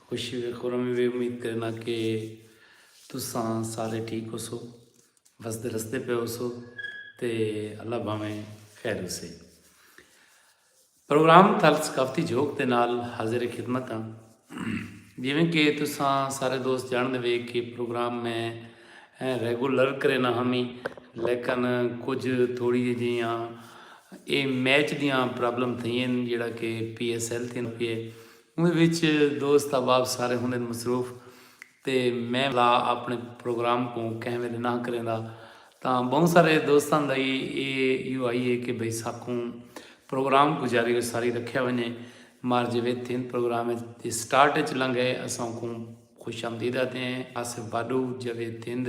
خوشی وے خرمی وے امید کرنا کہ تساں سارے ٹھیک ہو سو وسدے رستے پہ ہو سو تے اللہ بھاویں خیر ہو سے پروگرام تھل ثقافتی جھوک دے نال حاضر خدمت ہاں جیویں کہ تساں سارے دوست جان دے وے کہ پروگرام میں ایں ریگولر کرینا ہمی لیکن کجھ تھوڑی جے جیاں اے میچ دیاں پرابلم تھئین جیڑا کہ پی ایس ایل تھیند پیئے اوندے وچ دوست احباب سارے ہوندن مصروف تے میں لا اپنے پروگرام کوں کہیں ویلے نہ کریندا تاں بہوں سارے دوستاں دا ای اے یو آئی اے کہ بھئی ساکوں پروگرام کوں جاری و ساری رکھیا ونجے مار جے وچ تھیند پروگرام اچ سٹارٹ اچ لنگھے اساں کوں خوش آمدید آدھیں آصف باڈو، جاوید تھند،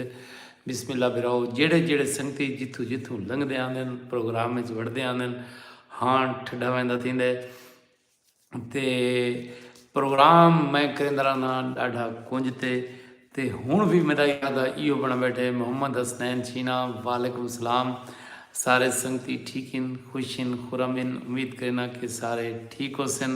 بسم اللہ براؤ جیڑھے جیڑھے سنگتی جتھوں جتھوں لنگھدے آندن پروگرام اچ وڑدے آندن ہاݨ ٹھڈا ویندا تھیندے تے پروگرام میں کریندہ رہنا ݙاڈھا کنج تے تے ہݨ وی میڈا ارادہ ایہو بݨا بیٹھے محمد حسنین چھینا وعلیکم السلام سارے سنگتی ٹھیک ہن خوش ہن خرم ہن امید کرینا کہ سارے ٹھیک ہوسن۔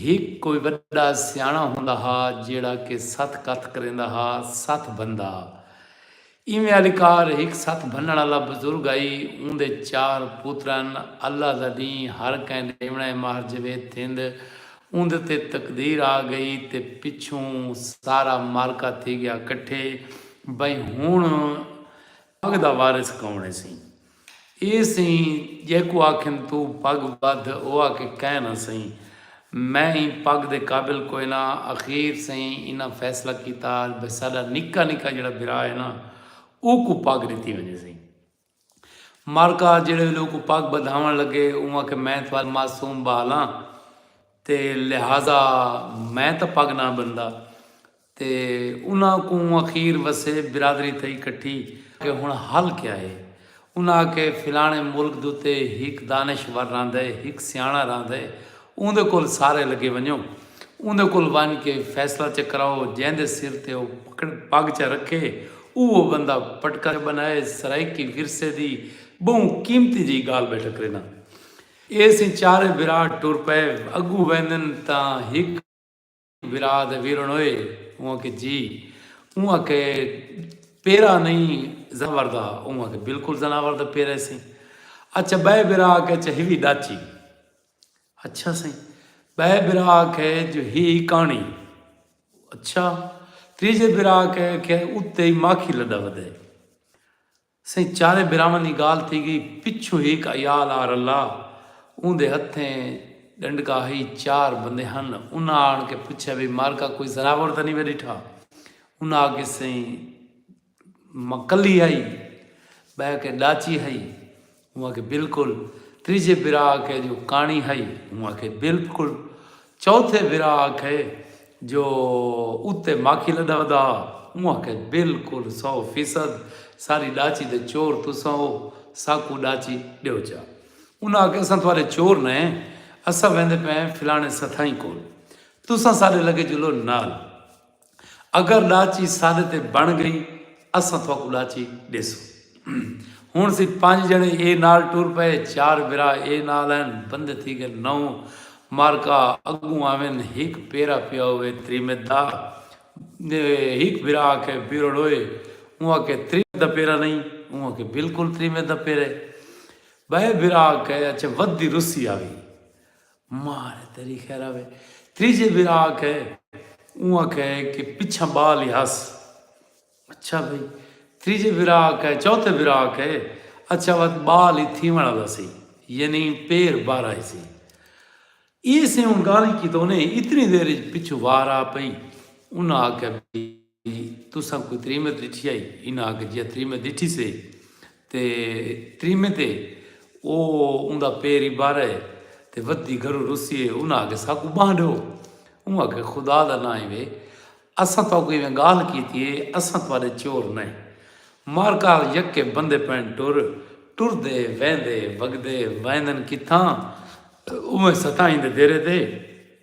ہک کوئی وݙا سیاݨا ہوندا ہا جیڑھا کہ ستھ کتھ کریندا ہا، ستھ بھندا۔ ایویں آلی کار ہک ستھ بھنݨ آلا بزرگ ہئی، اوندے چار پتر ہن، اللہ دا ݙینھ ہر کئیں ݙیوݨا ہے ماہر جاوید تھیند اوندے تے تقدیر آ ڳئی تے پچھوں سارا معرکہ تھی ڳیا کٹھے بئیں ہݨ پڳ دا وارث کوݨ ہیسی؟ اے سئیں جیکوں آکھن توں پڳ ٻدھ او آکھے کائے نہ سئیں میں ایں پڳ دے قابل کوئے نہ اخیر سئیں انہاں فیصلہ کیتا بھئی ساݙا نکا نکا جیڑھا بھرا ہے نہ اوکوں پڳ ݙتی ونڄے سئیں مارکا جیڑھے ویلے اوکوں پڳ ٻدھاوݨ لڳے اوں آکھے میں تھاݙا معصوم ٻال ہاں تے لہذا میں تاں پڳ نہ ٻدھدا تے انہاں کوں اخیر وسے برادری تئیں کٹھی کہ ہن حل کیا ہے؟ انہاں آکھے فلانے ملک دتے ہک دانش ور رہندے ہک سیاݨا رہندے اوندے کول سارے لگے ونجو اوندے کول ونج کے فیصلہ چا کراؤ جیندے سر تے او پگ چا رکھے اوہو بندہ پٹکا بنائے سرائیکی ورثے دی بہوں قیمتی جئی گالھ بیٹھا کرینداں ایسیں چارے بھرا ٹر پئے اگوں ویندن تاں ہک ویرا دے ویرن ہوئے اوں آکھے جی اوں آکھے پیرا نہیں زناور دا اوں آکھے بالکل زناور دا پیرے سیں اچھا بے برا آکھے اچھا ہی بھی ڈاچی اچھا سیں بے برا آکھے جو ہی کانی اچھا تریجے برا آکھے کہ اتے ہی ماکھی لڈا ودے سئیں چاریں بھراواں دی گالھ تھی گئی پچھوں ہیک عیال آ رلا اوندے ہتھیں ڈنڈکا ہئی چار بندے ہن انہاں آن کے پچھیا بھئی مارکا کوئی زناور تاں نی وے ڈٹھا انہاں آکھیے سئیں ماں کلی ہئی بہہ کے ڈاچی ہئی اوں آکھیے بلکل تریجھے بھرا آکھے جو کاݨی ہئی اوں آکھیے بلکل چوتھے بھرا آکھے جو اتے ماکھی لدا ودا ہا اوں آکھے بلکل سو فیصد ساری ڈاچی دے چور تساں ہو ساکوں ڈاچی ڈیو چا انہاں آکھے اساں تہاڈے چور نے اساں ویندے پئے فلانے ستھائی کول تساں ساڈے لگے جلو نال اگر ݙاچی ساݙے تے بݨ ڳئی اساں تھاکوں ݙاچی ݙیسوں۔ ہݨ اسی پنج ڄݨے اے نال ٹر پئے، چار بھرا اے نال ہن، بندے تھی ڳئے نو، مارکا اڳوں آوین ہک پیرا پیا ہووے تریمت دا، ہک بھرا آکھے پیرو ݙوہے، اوں آکھے تریمت دا پیرا نئیں، اوں آکھے بالکل تریمت دا پیرا ہے، ٻئے بھرا آکھے اچھا ودھ دی رسی آوی، مار ہے تیری خیر آوے تریجھے بھرا آکھے اوں آکھے کہ پچھاں بال ہی ہس اچھا بھئی تریجھے بھرا آکھے چوتھے بھرا آکھے اچھا وت بال ہی تھیوݨ والا سی یعنی پیر بارا ہی سی ایسے اوں گالھ کی تو انہیں اتنی دیر پچھو وار آ پئی انہاں آکھے تساں کوئی تریمت ݙٹھی ہئی؟ انہاں آکھیا جی ہا تریمت ݙٹھی سے تے تریمت ہے او اوندا پیر ای بھر ہے تے ودھی گھروں رسی ہے انہاں آکھیا ساکوں ٻانہہ ݙیو اوں آکھیا خدا دا ناں ہوے اساں تہاکوں ایویں ڳالھ کیتی ہے اساں تہاݙے چور نئیں مارکا یکے بندے پئن ٹر ٹردے ویندے وڳدے ویندن کتھاں اوویں ستائیں دے دیرے تے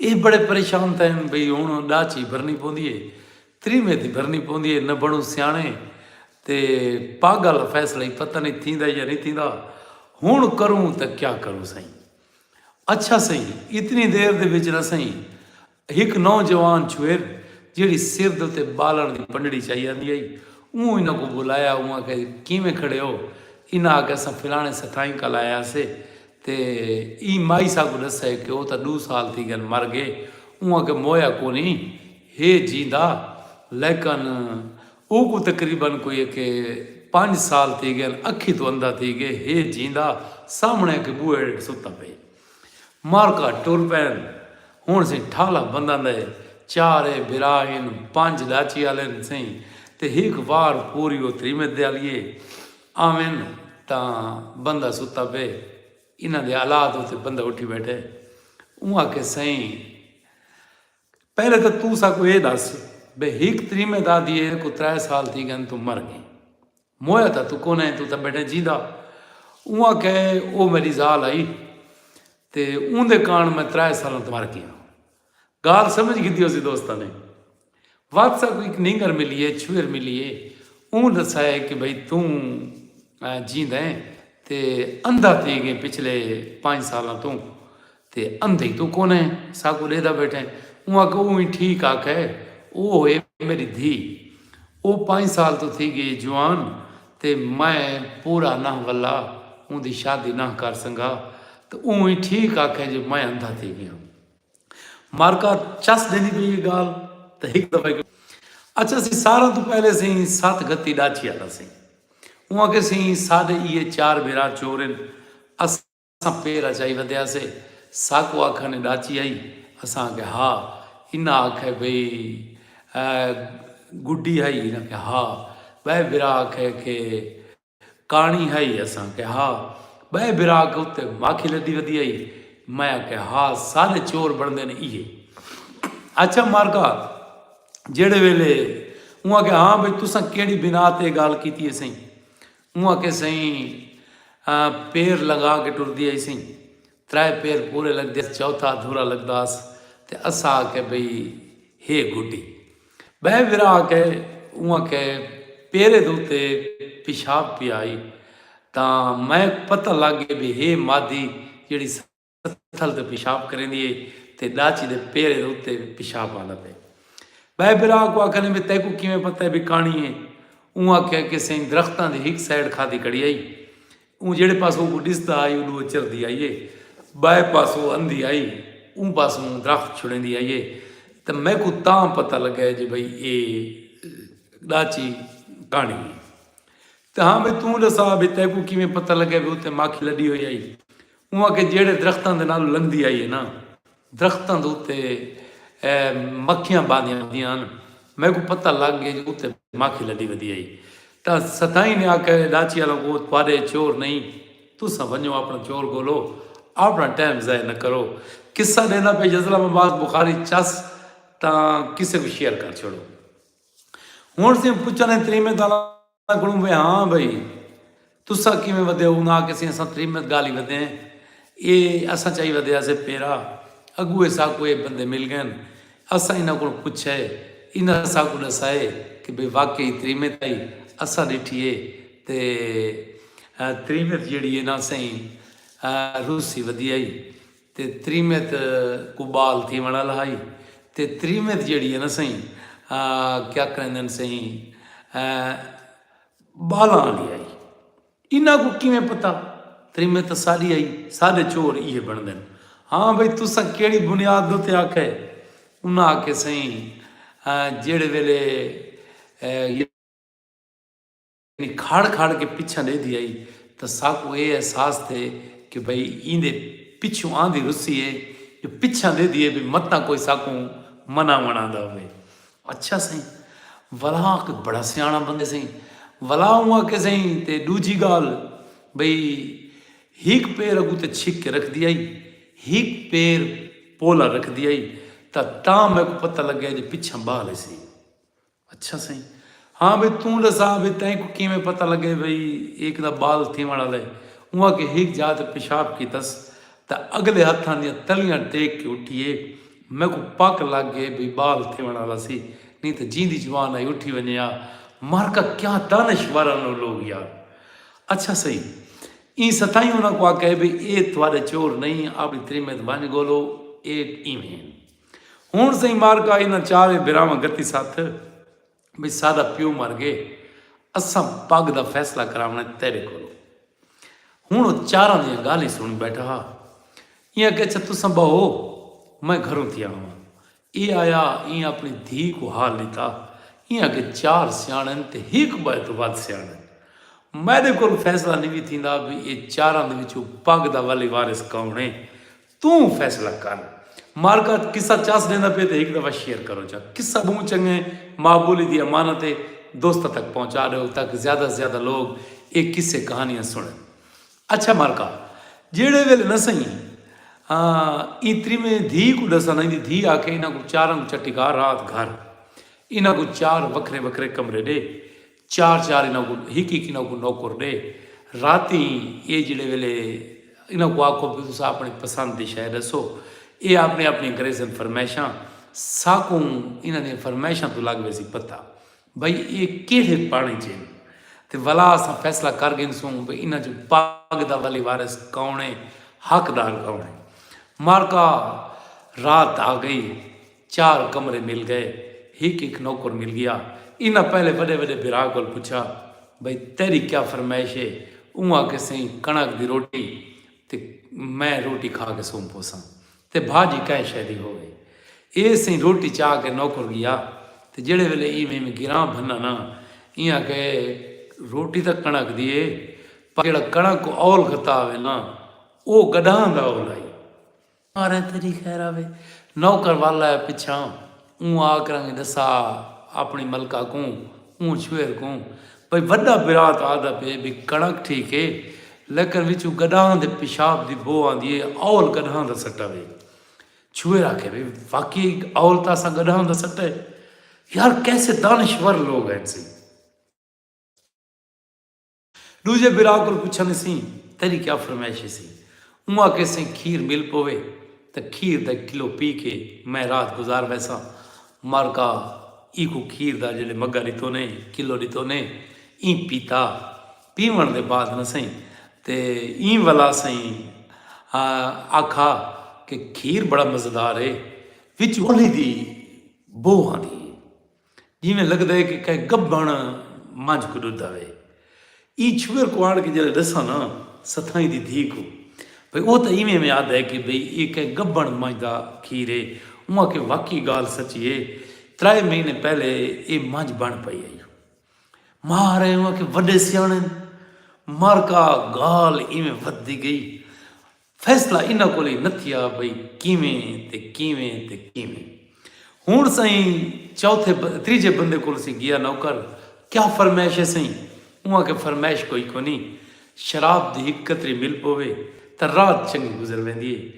اے بڑے پریشان تھئن بھئی ہنڑ ڈاہ چی بھرنی پوندی اے تری میں دی بھرنی پوندی اے نہ بنڑوں سیانڑے تے پاگل فیصلہ ای پتہ نئیں تھیندا یا نئیں تھیندا ہنڑ کروں تاں کیا کروں سئیں اچھا سئیں اتنی دیر دے وچ نہ سئیں ہک نوجوان چھوہر جیہڑی سر دے اتے بالݨ دی پنڈڑی چائی آندی ہئی اوں انہاں کوں بلایا اوں آکھیا جی کیویں کھڑے ہو انہاں آکھیا اساں فلانے سٹھائیں کل آئے ہاسے تے ایں مائی سا کوں ڈسے کہ او تاں ڈو سال تھی گن مر گئے اوں کے مویا کونی ہے جیندا لیکن او کوں تقریبا کوئی اے کے پنج سال تھی گن اکھی توں اندھا تھی گئے ہے جیندا سامنے اکھے بوہے اڈ ستا پئے مارکا ٹر پین ہن سئیں ٹھالا بنداں دا اے چار اے بھرا ہن پنج ڈاچی آلے ہن سئیں تے ہک وار پوری او تریمت دے آلیے آون تاں بندہ ستا پئے انہاں دے آلات اتے بندہ اٹھی بیٹھے اوں آکھے سئیں پہلے تاں توں ساکوں اے دس بھئی ہک تریمے دادی اے کو ترے سال تھی گئن توں مر گئی مویا تاں توں کونیں توں تاں بیٹھیں جیندا اوں آکھے او میڈی زال آئی تے اوندے کارن میں ترے سالاں توں مر گیاں گالھ سمجھ گھدی ہوسی دوستاں نے واتس اپ ایک نینگر ملی ہے چھویر ملی ہے اون دسا ہے کہ بھئی توں جیندا ہے تے اندھا تھی گئے پچھلے پانچ سالاں توں تے اندھے تو کون ہے ساکو ڈیدا بیٹھے اون آکھا اون ہی ٹھیک آکھا ہے او ہوئے میری دھی او پانچ سال تو تھی گئے جوان تے میں پورا نہ ولا اون دی شادی نہ کر سنگا تے اون ہی ٹھیک آکھا ہے جو میں اندھا تھی گیا مارکا چس دیندی پئی ہے گال تے ہک دفعہ کیوں اچھا سی سارا تو پہلے سی سات گھتی ڈاچی آتا سی اون کے سی سادے یہ چار بھرا چورن اساں پیرا چائی ودیا سے ساکو آکھا نے ڈاچی آئی اساں کے ہا انہاں آکھے بھئی گڈی آئی انہاں کے ہا بے بھرا آکھے کے کہاݨی ہئی اساں کہ ہا بئے بھرا کے اتے ماکھی لدی ودی ہئی میں کہ ہا سارے چور بندے نے ایے اچھا مارکا جیڑے ویلے اواں کہ ہاں بھئی تساں کیڑی بنا تے گال کیتی ہے سائیں اواں کہ سائیں پیر لگا کے ٹردی ہے سائیں ترائے پیر پورے لگدے ہس چوتھا ادھورا لگدا ہس تے اساں آکھیا بھئی ہے گڈی بئے وراں آکھے اوں آکھے پیرے دے اتے پیشاب پیا آئی تاں میک پتہ لگ گئے بھئی ہے مادی جیڑھی ستھل تے پیشاب کریندی ہے تے ڈاچی دے پیرے دے اتے پیشاب آندا پئے بئے بھرا آکھو آکھنے بھئی تیکو کیویں پتہ ہے بھئی کانی ہے اوں آکھیا کہ سائیں درختاں دی ہک سائیڈ کھادی کڑی آئی اوں جیڑھے پاسوں اوکوں ݙسدا ہئی اݙوں او چردی آئی اے ٻئے پاسوں اندھی آئی اوں پاسوں درخت چھڑیندی آئی اے تاں میکوں تاں پتہ لڳا اے جو بھئی اے ݙاچی کہاݨی اے تاں ہاں بھئی توں ݙسا بھئی تیکوں کیویں پتہ لڳا اے بھئی اوتے ماکھی لݙی ہوئی ہئی اوں آکھیا جیڑھے درختاں دے نالوں لنگھدی آئی اے نا درختاں دے اتے مکھیاں باندیاں ہوندیاں ہن۔ میکوں پتہ لگ گئے جو اتے مکھی لڈی ودی ہئی۔ تاں ستائیں نے آکھیا اے ڈاچی آلوں کو تہاڈے چور نئیں۔ تساں ونجو اپنا چور گولو۔ اپنا ٹائم ضائع نہ کرو۔ قصہ ڈیندا پئے یزلام عباس بخاری چس تاں کسے کوں شیئر کر چھوڑو۔ ہن سئیں پچھانے تریمیں تاں انہاں کولوں وے ہاں بھئی تساں کیویں ودھے ہو؟ انہاں آکھیسی اساں تھری منت گالھی ودھے ہیں اے اساں چائی ودھے ہاسے پیرا اگو اے ساکوں اے بندے مل گئن اساں انہاں کولوں پچھے انہاں ساکوں ڈسائے کہ بھئی واقعی تھری منت آئی اساں ڈٹھی اے تے تھری منت جیڑی اے نا سئیں روسی ودھی آئی۔ تے تریمت کوں بال تھیوݨ آلا ہئی تے تریمت جیڑھی ہے نا سئیں کیا کریندن سئیں بالاں آلی ہئی انہاں کوں کیویں پتہ تریمت تاں ساڈی ہئی ساڈے چور ایہے بنڑدن ہاں بھئی تساں کیڑھی بنیاد تے آکھئے انہاں آکھئے سئیں جیڑھے ویلے میں کھڑ کھڑ کے پچھاں ڈیہدی ہئی تاں ساکوں ایہ احساس تھئے کہ بھئی ایندے پچھوں آندی رسی ہے جو پچھاں ڈیہدی ہے بھئی متاں کوئی ساکوں مناوݨ آندا ہووے۔ اچھا سئیں ولا کوئی بڑا سیاݨا بندے سئیں ولا اوں آکھے سئیں تے ݙوجھی ڳالھ بھئی ہک پیر اڳوں تے چھک کے رکھدی ہئی ہک پیر پولا رکھدی ہئی تاں تاں میکوں پتہ لڳے جو پچھاں ٻال ہسی۔ اچھا سئیں ہاں بھئی توں ڈسا بھئی تئیں کوں کیویں پتہ لگے بھئی ایک دا بال تھیوݨ آلا ہے اوں آکھیے ہک جاہ تے پیشاب کیتس تاں اگلے ہتھاں دیاں تلیاں ٹیک کے اٹھیے میکوں پک لگ گئے بھئی بال تھیوݨ آلا سی نی تاں جیندی جوان آئی اٹھی ونجے آ مارکا کیا دانشور ہن او لوگ یار اچھا سئیں ایں ستائیں انہاں کوں آکھیا بھئی اے تہاڈے چور نئیں اپݨی تریمت ونج گولو اے ایویں ہن۔ ہنڑ سئیں معرکہ انہاں چاریں بھراواں گتی ستھ بھئی ساڈا پیو مر گئے اساں پگ دا فیصلہ کراونڑاں اے تیڈے کولوں۔ ہنڑ او چاراں دیاں گالھیں سنڑ بیٹھا ہا۔ ایں آکھیا اچھا تساں بہو میں گھروں تھیا آواں۔ اے آیا ایں اپنڑی دھی کوں حال ڈتا۔ ایں آکھیا چار سیانڑ ہن تے ہک بئے توں ودھ سیانڑ ہن۔ میڈے کول فیصلہ نی وی تھیندا بھئی اے چاراں دے وچوں پگ دا ولی وارث کون اے۔ توں فیصلہ کر۔ مارگاتھ قصہ چاس ڈیندا پئے تے ہک دفعہ شیئر کرو چا۔ قصہ بہوں چنگا ہے۔ ماں بولی دی امانت ہے۔ دوستاں تک پہنچا ڈیو تاکہ زیادہ سے زیادہ لوگ اے قصے کہانیاں سنڑن۔ اچھا مارکا جیڑھے ویلے نہ سئیں ایں تریمیں دھی کوں ڈساں تاں ایندی دھی آکھے انہاں کوں چاراں کوں چٹی کر رات گھر انہاں کوں چار وکھرے وکھرے کمرے ڈے چار چار انہاں کوں ہک ہک انہاں کوں نوکر ڈے راتی اے جیڑھے ویلے انہاں کوں آکھو بھئی تساں اپنی پسند دی شے ڈسو اے اپنی اپنی گریسن فرمائشاں ساکوں انہاں دیاں فرمائشاں توں لگ ویسی پتہ بھئی اے کیڑھے پاڑیں چ ہن تے ولا اساں فیصلہ کر گھنسوں بھئی انہاں چوں پاگ دا ولی وارث کوݨ اے حقدار کوݨ اے معرکہ رات آ گئی چار کمرے مل گئے۔ ہک ہک نوکر مل گیا۔ انہاں پہلے وڈے وڈے بھرا کول پچھا بھئی تیڈی کیا فرمائش ہے؟ اوں آکھے سئیں کݨک دی روٹی تے میں روٹی کھا کے سم پوساں تے بھاجی کہیں شے دی ہووے۔ اے سئیں روٹی چا کے نوکر گیا تے جیڈے ویلے ایویں ایویں گراں بھناں نا ایں آکھے روٹی تاں کݨک دی ہے پر جیڈا کݨک کوں اول گھتا آوے نا او گڈاہاں دا اول آئی۔ ساریں تیڈی خیر آوے۔ نوکر ول آئے پچھاں اوں آ کرنگ ڈسا اپنی ملکہ کوں اوں چھوہر کوں بھئی وڈا برا تاں آدھا پئے بھئی کڑک ٹھیک اے لیکن وچوں گڈھاں دے پیشاب دی بو آندی اے اول گڈھاں دا سٹا وے چھوہر آکھے بھئی واقعی اول تاں اساں گڈھاں دا سٹا اے یار کیسے دانشور لوگ ہن سی۔ ݙوجھے بھرا کول پچھن اسیں تیݙی کیا فرمائش اسی؟ اوں آکھے سئیں کھیر مل پووے تاں کھیر دا کلو پی کے میں رات گزار ویساں۔ مارکا ایکوں کھیر دا جیڑھے مگا ݙتونے، کلو ݙتونے، ایں پیتا۔ پیوݨ دے بعد نہ سئیں تے ایں ولا سئیں آکھا کہ کھیر بڑا مزیدار اے، وچ اولھی دی بو آندی اے۔ جیویں لگدا ہے کہ کہیں گبݨ منجھ کوں ݙدا وے۔ ایں چھوہر کوں آݨ کے جݙاں ݙساں ناں ستھائیں دی دھی کوں بھئی او تاں ایویں ایویں آہدا ہے کہ بھئی ایہ کہیں گبݨ منجھ دا کھیر ہے۔ اوں آکھے واقعی ڳالھ سچی ہے۔ ترائے مہینے پہلے ایہ منجھ بݨ پئی ہئی۔ ماء ہرائیں اوں آکھے وݙے سیاݨے ہن۔ مرکا ڳالھ ایویں ودھدی ڳئی۔ فیصلہ انہاں کول ای نتھیا بھئی کیویں تے کیویں تے کیویں۔ ہنڑ سئیں چوتھے تریجھے بندے کول سی گیا نوکر کیا فرمائش ہے سئیں؟ اوں آکھیا فرمائش کوئی کونی شراب دی ہک قطری مل پووے تاں رات چنگی گزر ویندی ہے۔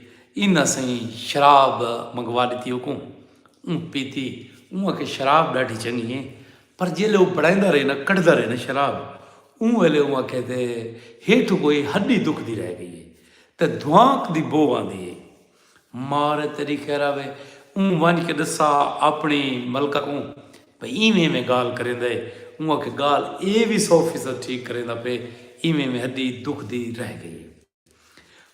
انہاں سئیں شراب منگوا ڈتی اوکوں۔ اوں پیتی۔ اوں آکھیا شراب ڈاڈھی چنگی ہے پر جیلے او بنڑائیندا رہے نا کڈھدا رہے نا شراب اوں ویلے اوں آکھے تے ہیٹھوں کوئی ہڈی دکھدی رہ گئی ہے تے دھوانک دی بو آندی ہے مار ہے تیڈی خیراوے اوں ونج کے ڈسا اپنڑی ملکہ کوں بھئی ایویں ایویں گالھ کریندا ہے اوں آکھے گالھ اے وی سو فیصد ٹھیک کریندا پے ایویں ایویں ہڈی دکھدی رہ گئی ہے۔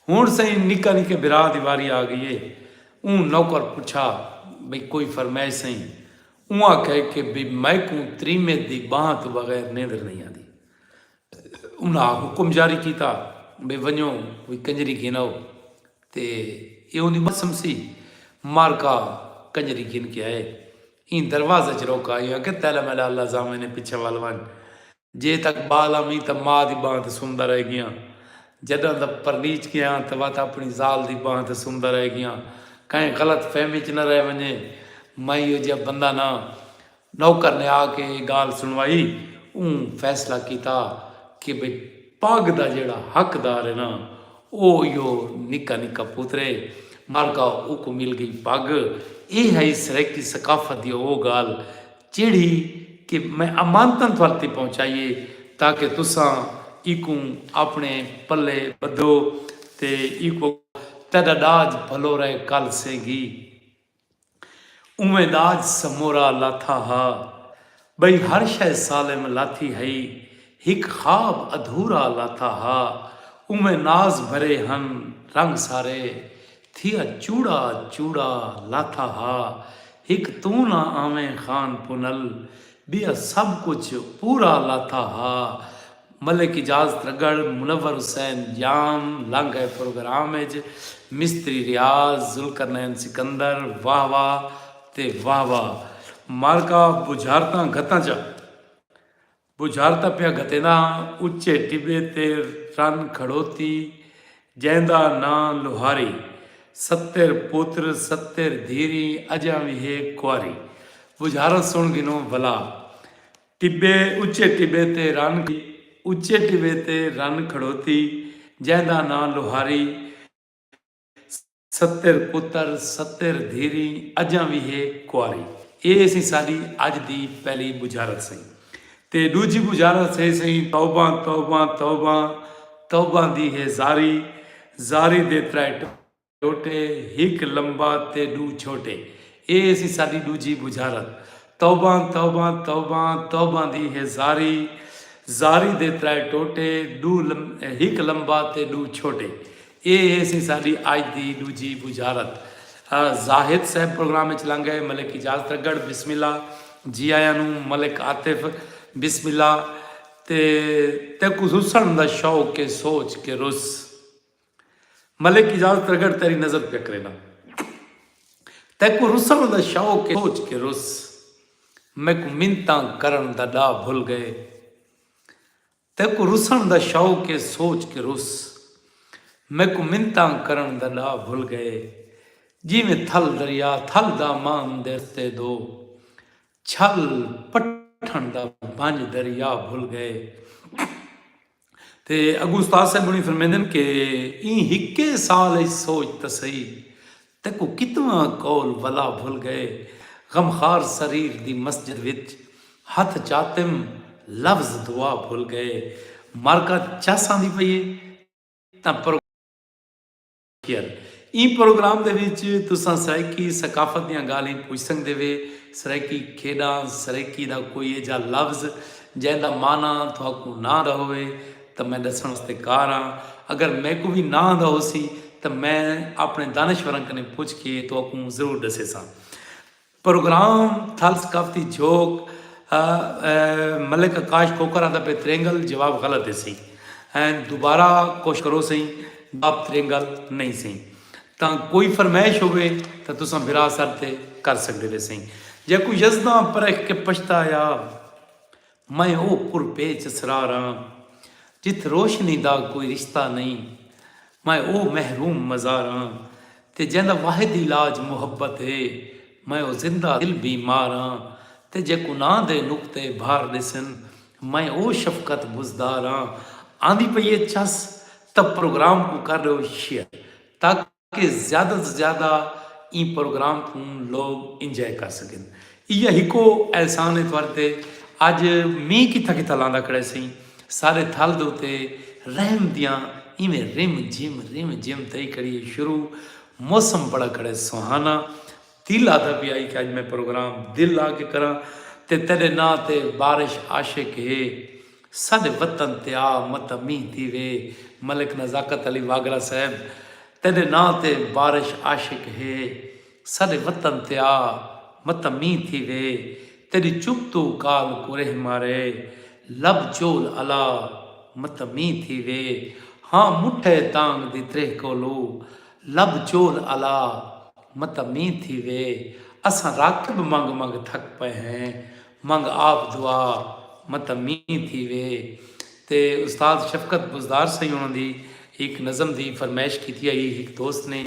ہنڑ سئیں نکا نکے بھرا دی واری آ گئی ہے۔ اوں نوکر پچھا بھئی کوئی فرمائش سئیں؟ اوں آکھیا کہ بھئی میکوں تریمت دی بانہہ توں بغیر نیندر نئیں آندی۔ انہاں حکم جاری کیتا بھئی ونجو کوئی کنجری گھن آؤ تے ایہ اوندی بانہہ سمسی۔ مارکا کنجری گھن کے آئے۔ ایں دروازے اچ روکا۔ ایہو آکھیا تیلا میلا اللہ زامن ہے پچھے ول ونج۔ جے تک بال آمیں تاں ماء دی بانہہ تے سمدا رہ گیاں۔ جڈاں دا پرنیچ گیاں تاں وت اپنی زال دی بانہہ تے سمدا رہ گیاں۔ کہیں غلط فہمی اچ نہ رہ ونجے۔ میں ایہو جیہا بندہ نہ۔ نوکر نے آ کے ایہ گالھ سنوائی۔ اوں فیصلہ کیتا کہ بھئی پڳ دا جیہڑا حقدار ہے نہ او ایہو نکا نکا پتر ہے۔ مالکا اوکوں مل گئی پڳ۔ ایہہ ہئی سرائیکی ثقافت دی او گالھ جیڑھی کہ میں امانتاں تہاڈے تے پہنچائی ہے تاکہ تساں ایکوں آپنڑے پلے بدھو تے ایکوں اگو تہاڈا ڈاج بھلو رہے کل سیں گی اوویں ڈاج سمورا لاتھا ہا بئی ہر شے سالم لاتھی ہئی ہک خواب ادھورا لاتھا ہا اوویں ناز بھرے ہن رنگ سارے تھیا چوڑا چوڑا لاتھا ہا ہک توں نہ آویں خان پنل ٻیا سب کچھ پورا لاتھا ہا ملک اجاز ترگڑھ منور حسین ڄام لنگھ ڳئے پروگرام اچ مستری ریاض ذوالقرنین سکندر واہ واہ تے واہ واہ مارکا بجھارتاں گھتاں چا بجھارتاں پیا گھتیندا ہاں اچے ٹبے تے رن کھڑوتی جیندا ناں لوہاری ستر پوتر ستر دھیریں اجاں وی ہے کواری بجھاراں سن گھنوں ولا ٹبے اچے ٹبے تے رن اچے ٹبے تے رن کھڑوتی جیندا ناں لوہاری ستر پتر ستر دھیریں اجاں وی ہے کواری۔ اے ہیسی ساڈی اج دی پہلی بجھارت سئیں۔ تے ڈوجھی بجھارت ہے سئیں توباں توباں توباں توباں دی ہے زاری۔ زاری دے ترائے ٹوٹے ہک لمبا تے ڈو چھوٹے۔ اے ہیسی ساڈی ڈوجھی بجھارت۔ توباں توباں توباں توباں دی ہے زاری۔ زاری دے ترائے ٹوٹے ڈو ہک لمبا تے ڈو چھوٹے۔ اے ہیسی ساڈی اج دی ڈوجھی بجھارت۔ زاہد صاحب پروگرام اچ لنگ گئے۔ ملک اجاز ترگڑھ بسم اللہ جی آیاں نوں ملک عاطف بسم اللہ تے تیکوں رسنڑ دا شوق اے سوچ کے رس ملک اجاز ترگڑھ تیری نظر پیا کرینا تیکوں رسنڑ دا شوق اے سوچ کے رس میکوں منتاں کرنڑ دا ڈاہ بھل گئے تیکوں رسݨ دا شوق اے سوچ کے رس میکوں منتاں کرݨ دا ݙا بھل ڳئے جیویں تھل دریا تھل داماں دے رستے دو چھل پٹھݨ دا بھنج دریا بھل ڳئے تے اڳوں استاد صاحب ہوݨی فرمیندن کے ایں ہکے سال اچ سوچ تسئی تیکوں کتنا قول ولا بھل گئے غمخار سریر دی مسجد وچ ہتھ چاتم لفظ دعا بھل گئے مرکہ چس آندی پئی ہے تاں پروگرام کیئر ایں پروگرام دے وچ تساں سرائیکی ثقافت دیاں گالھیں پوچھ سنگدے وے سرائیکی کھیڈاں سرائیکی دا کوئی ایجھا لفظ جیندا معنی تھاکوں نہ رہوے تاں میں ݙسݨ واسطے کار ہاں، اگر میکوں وی نہ آندا ہوسی تاں میں آپݨے دانشوراں کنیں پچھ کے تہاکوں ضرور ݙسیساں۔ پروگرام تھل ثقافتی جھوک ء ملک آکاش کوکر آندا پئے ترینگل جواب غلط ہیسی ء دوبارہ کوشش کروسئیں جواب ترینگل نئیں سئیں تاں کوئی فرمائش ہووے تاں تساں براہ سر تے کر سڳدے ویسئیں جیکوں یزداں پرکھ کے پچھتایا میں او پر پیچ اسرار آں جتھ روشنی دا کوئی رشتہ نئیں میں او محروم مزار آں تے جیندا واحد علاج محبت اے میں او زندہ دل بیمار آں تے جے گناہ دے نقطے بھار ڈیسن میں او شفقت بزدار آں آندی پئی اے چس تاں پروگرام کوں کر ڈیو شیئر تاکہ کہ زیادہ توں زیادہ ایں پروگرام کوں لوگ انجوائے کر سگن۔ ایہا ہکو احسان ہے تہاڈے تے۔ اج مینہ کتھاں کتھاں لاندا کھڑیسیں۔ سارے تھل دے اتے رحم دیاں ایویں رم جھم رم جھم تھئی کھڑی ہے شروع۔ موسم بڑا کھڑے سہانا۔ دل آہدا پیا ہئی کہ اج میں پروگرام دل لا کے کراں تے تیڈے ناں تے بارش عاشق ہے ساڈے وطن تے آ متہ مینہ تھیوے ملک نزاکت علی واگڑا صاحب تیڈے ناں تے بارش عاشق ہے ساڈے وطن تے آ متہ مینہ تھیوے تیڈی چپ توں کال کورہ مارے لب چول الا متہ مینہ تھیوے ہاں مٹھے تانگ دی تریہہ کولو لب چول الا متاں مینہہ تھیوے اساں راکب منگ منگ تھک پئے ہیں منگ آپ دعا متاں مینہہ تھیوے تے استاد شفقت بزدار سئیں انہاں دی ہک نظم دی فرمائش کیتی ہئی ہک دوست نے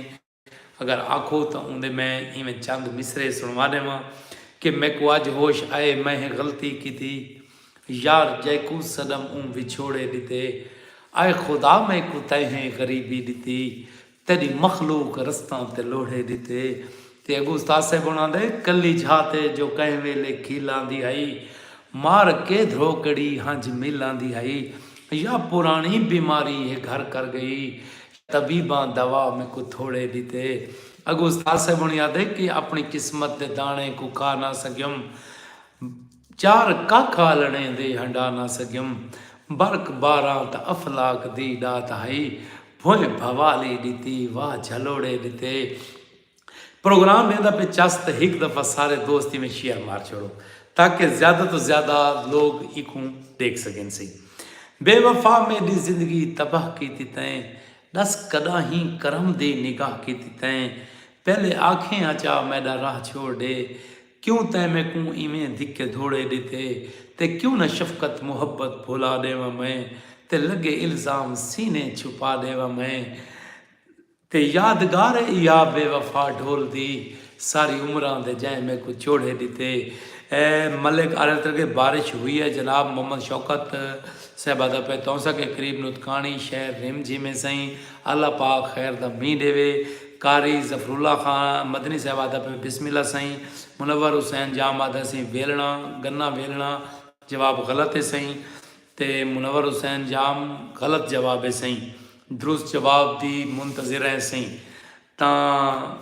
اگر آکھو تاں اوندے میں ایویں چند مصرعے سنڑوا ڈیواں کہ میکوں اج ہوش آئے میں ہیں غلطی کیتی یار جیکوں صدم اوں وچھوڑے ڈتے آئے خدا میکوں تیں ہیں غریبی ڈتی تیݙی مخلوق رستاں تے لوڑھے ݙتے۔ تے اڳوں استاد صاحب ہوݨاں دے کلی جھا تے جو کہیں ویلے کھل آندی ہئی۔ مار کے دھروکڑی ہنجھ مل آندی ہئی۔ یا پراݨی بیماری ہے گھر کر ڳئی۔ طبیباں دوا میکوں تھوڑے ݙتے۔ اڳوں استاد صاحب ہوݨی آہدے کہ اپݨی قسمت دے داݨے کوں کھا نہ سڳیوم۔ چار ککھ آلݨیں دے ہنڈا نہ سڳیم۔ برق باراں تاں افلاک دی ݙات ہئی۔ بھوئیں بھوالی ݙتی، واہ جھلوڑے ݙتے۔ پروگرام ویندا پئے چس تاں ہک دفعہ سارے دوست ایویں شیئر مار چھوڑو تاکہ زیادہ توں زیادہ لوک ایکوں ݙیکھ سڳن سی۔ بے وفا میݙی زندگی تباہ کیتی تئیں۔ ݙس کݙاہیں کرم دی نگاہ کیتی تئیں۔ پہلے آکھیں آچا میݙا راہ چھوڑ ݙے۔ کیوں تیں میکوں ایویں دھکے دھوڑے ڈتے تے کیوں نہ شفقت محبت بھلا ڈیواں میں تے لگے الزام سینے چھپا ڈیواں میں تے یادگار اے ایا بے وفا ڈھول دی ساری عمراں دے جیں میکوں چوڑھے ڈتے اے ملک آرلترگے بارش ہوئی اے جناب محمد شوکت صاحب آدا پئے تونسا کے قریب نوتکاݨی شہر رم جھیمیں سئیں اللہ پاک خیر دا مینہ ڈیوے۔ قاری ظفراللہ خان مدنی صاحب آہدا پئے بسم اللہ سئیں۔ منور حسین جام آہدا سی ویلݨا، گناں ویلݨا، جواب غلط ہے سئیں تے منور حسین جام غلط جواب ہے سئیں۔ درست جواب دی منتظر ہیں سئیں۔ تاں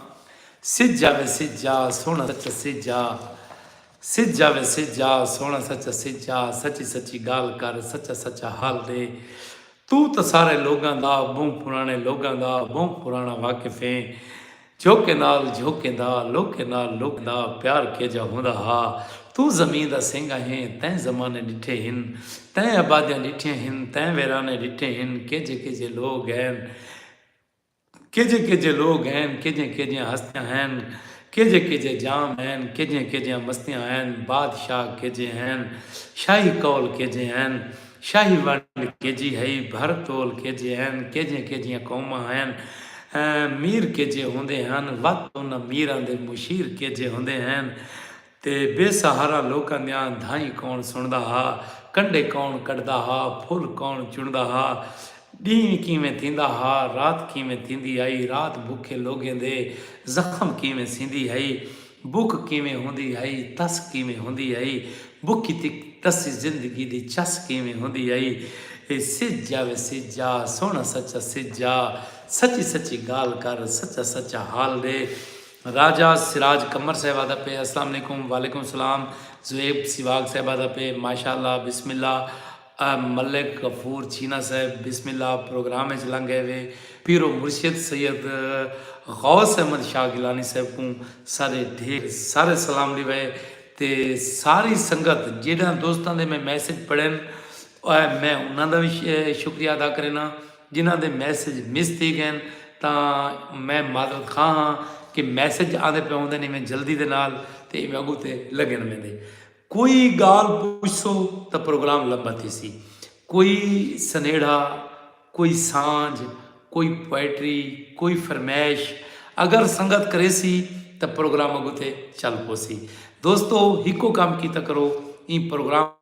سجا وے سجا سوہݨا سچا سجا سجا وے سجا سوہݨا سچا سجا سچی سچی ڳالھ کر سچا سچا حال ݙے توں تاں سارے لوگاں دا ٻہوں پراݨے لوگاں دا ٻہوں پراݨا واقف ایں جھوکے نال جھوکیں دا لوکیں نال لوکیں دا پیار کیجھا ہوندا ہا توں زمین دا سینگا ہیں تیں زمانے ݙٹھے ہن تیں آبادیاں ݙٹھیاں ہن تیں ویرانے ݙٹھے ہن کیجھے کیجھے لوگ ہین کیجھے کیجھے لوگ ہین کیجھیاں کیجھیاں ہستیاں ہین کیجھے کیجھے جام ہین کیجھیاں کیجھیاں مستیاں ہین بادشاہ کیجھے ہین شاہی قول کیجھے ہین شاہی ونڈ کیجھی ہئی بھر تول کیجھے ہین کیجھیاں کیجھیاں قوماں ہین میر کیجھے ہوندے ہن وقت انہاں میراں دے مشیر کیجھے ہوندے ہین تے بے سہارا لوکاں دیاں دھائیں کون سݨدا ہا، کنڈے کون کڈھدا ہا، پھل کون چݨدا ہا، ݙینہہ کیویں تھیندا ہا، رات کیویں تھیندی ہئی، رات بکھے لوگیں دے زخم کیویں سیندی ہئی، بک کیویں ہوندی ہئی، تس کیویں ہوندی ہئی، بکی تے تسی زندگی دی چس کیویں ہوندی ہئی، سجھ آ وے سجھ آ، سوہݨا سچا سجھ آ، سچی سچی ڳالھ کر، سچا سچا حال ݙے، راجہ سراج قمر صاحبہ دا پے السلام علیکم وعلیکم السلام زویب سیواگ صاحبہ دا پے ماشاءاللہ بسم اللہ ملک غفور چینا صاحب بسم اللہ پروگرام اچ لنگ گئے وے پیر و مرشد سید غوث احمد شاہ گیلانی صاحب کوں سارے ڈھیر سارے سلام ڈیوے تے ساری سنگت جیڈاں دوستاں دے میں میسج پڑھن میں انہاں دا بھی شکریہ ادا کرینا جنہاں دے میسج مس تھی گئن تاں میں معذرت خواہ ہاں کہ میسج آندے پئے ہوندن ایویں جلدی دے نال تے ایویں اگوں تے لگن ویندے کوئی گالھ پچھسو تاں پروگرام لمبا تھیسی کوئی سنیڑھا کوئی سانجھ کوئی پوئٹری کوئی فرمیش اگر سنگت کریسی تاں پروگرام اگوں تے چل پوسی دوستو ہکو کم کیتا کرو ایں پروگرام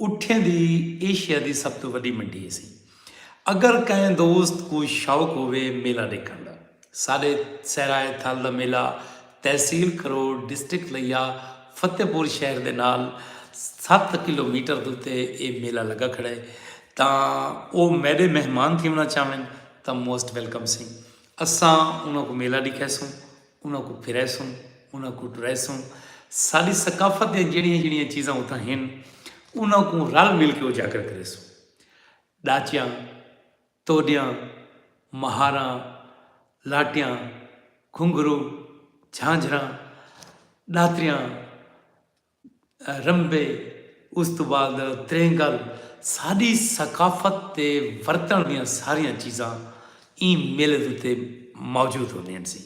اٹھیں دی ایشیا دی سب توں وڈی منڈی ہیسی۔ اگر کہیں دوست کوں شوق ہووے میلہ ڈیکھنڑ دا ساڈے صحرائے تھل دا میلہ تحصیل کھروڑ ڈسٹرکٹ لیا فتح پور شہر دے نال ست کلو میٹر دے اتے اے میلہ لگا کھڑا ہے تاں او میڈے مہمان تھیونڑاں چاہون تاں موسٹ ویلکم سیں اساں انہاں کوں میلہ ڈیکھیسوں۔ انہاں کوں پھریسوں، انہاں کوں ٹریسوں، ساݙی ثقافت دیاں جہڑیاں جہڑیاں چیزاں اتھاں ہن انہاں کوں رل مل کے اجاگر کریسوں۔ ݙاچیاں، توݙیاں، مہاراں، لاٹیاں، گھنگھرو، جھانجھراں، ݙاتریاں، رنبے، اس توں بعد تریں گل ساڈی ثقافت تے ورتن دیاں ساریاں چیزاں ایں میلے دے اتے موجود ہوندیاں سی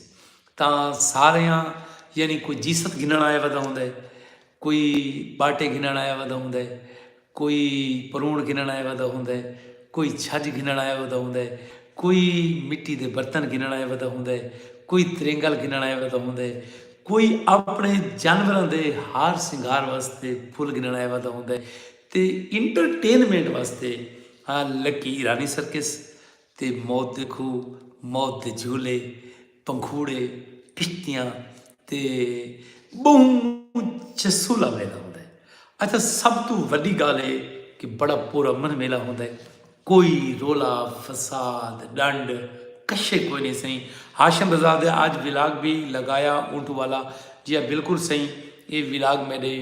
تاں ساریاں یعنی کوئی جیست گھنن آیا ودا ہوندے کوئی باٹے گھنن آیا ودا ہوندے۔ کوئی پروݨ گھنݨ آیا ودا ہوندا ہے، کوئی چھڄ گھنݨ آیا ودا ہوندا ہے، کوئی مٹی دے برتن گھنݨ آیا ودا ہوندا ہے، کوئی ترینگل گھنݨ آیا ودا ہوندا ہے، کوئی اپݨے جانوراں دے ہار سنگھار واسطے پھل گھنݨ آیا ودا ہوندا ہے تے انٹرٹینمنٹ واسطے لکی ایرانی سرکس تے موت دے کھوہ، موت دے جھولے، پنکھوڑے، کشتیاں تے ٻہوں چسولا میلہ ہوندا ہے۔ اچھا سب توں وݙی ڳالھ اے کہ بڑا پرامن میلہ ہوندا ہے۔ کوئی رولا، فساد، ݙنڈ، کشے کوئی نئیں سئیں۔ ہاشم رضا دے آج ولاگ وی لڳایا اونٹو والا جی ہاں بالکل سئیں اے ولاگ میݙے